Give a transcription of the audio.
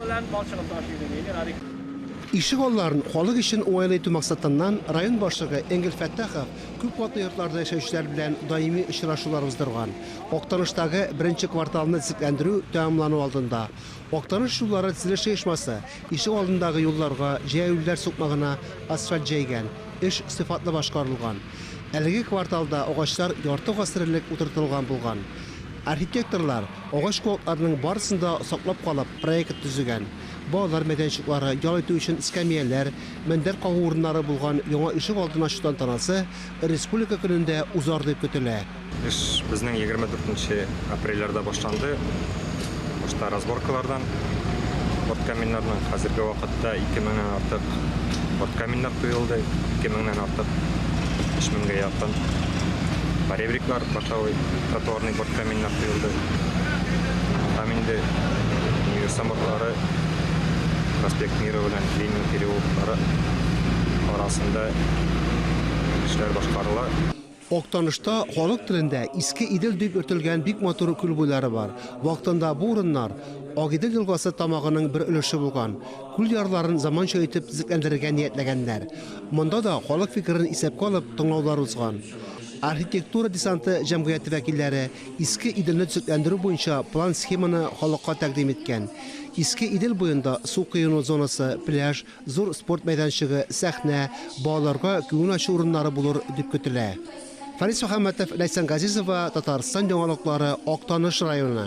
Белән мал чыгып таш идең, Эльмир Ариф. Ишегалларын халык өчен уңайлы итү максатыннан район башлыгы Энгель Фәттахов күп катлы йортларда яшәүчеләр белән даими очрашулар уздырган. Актаныштагы беренче кварталны төзекләндерү тәмамлану алдында Актаныш юллары төзелеш оешмасы ишек алдындагы юлларга җәяүлеләр сукмагына асфальт җәйгән, эш сыйфатлы башкарылган. Әлеге кварталда агачлар ярты гасыр элек утыртылган булган. Архитекторлар Агач куакларның барысын да саклап калып, проект төзегән. Балалар мәйданчыклары, ял итү өчен эскәмияләр, мендәр кагу урыннары булган яңа ишек алдын ачу тантанасы республика көнендә узар дип көтелә. Эш безнең егерме дүртенче апрельләрдә башланды. Башта разборкалардан порткаминнарның, хәзерге вакытта ике меңнән артык порткаминнар коелды, ике меңнән артык, өч меңгә якын, поребриклар, башавый, тротуарный Бот каминнар коелды. Там инде Универсам ботлары, проспект Мира белән Ленин переулоклары арасында эшләр башкарыла. Актанышта халык телендә Иске Идел дип йөртелгән бик матур күл буйлары бар. Вакытында бу урыннар Агидел елгасы тамагының бер өлеше булган. Күл ярларын заманча итеп төзекләндерергә ниятләгәннәр. Монда да халык фикерен исәпкә алып тыңлаулар узган. Архитектура десанты җәмгыяте вәкилләре Иске Иделне төзекләндерү буенча план-схеманы халыкка тәкъдим иткән. Иске Идел буенда су коену зонасы, пляж, зур спорт мәйданчыгы, сәхнә, балаларга күңел ачу урыннары булыр дип көтелә. Фарис Мөхәммәтов, Ләйсән Газизова, Татарстан яңалыклары, Актаныш районы.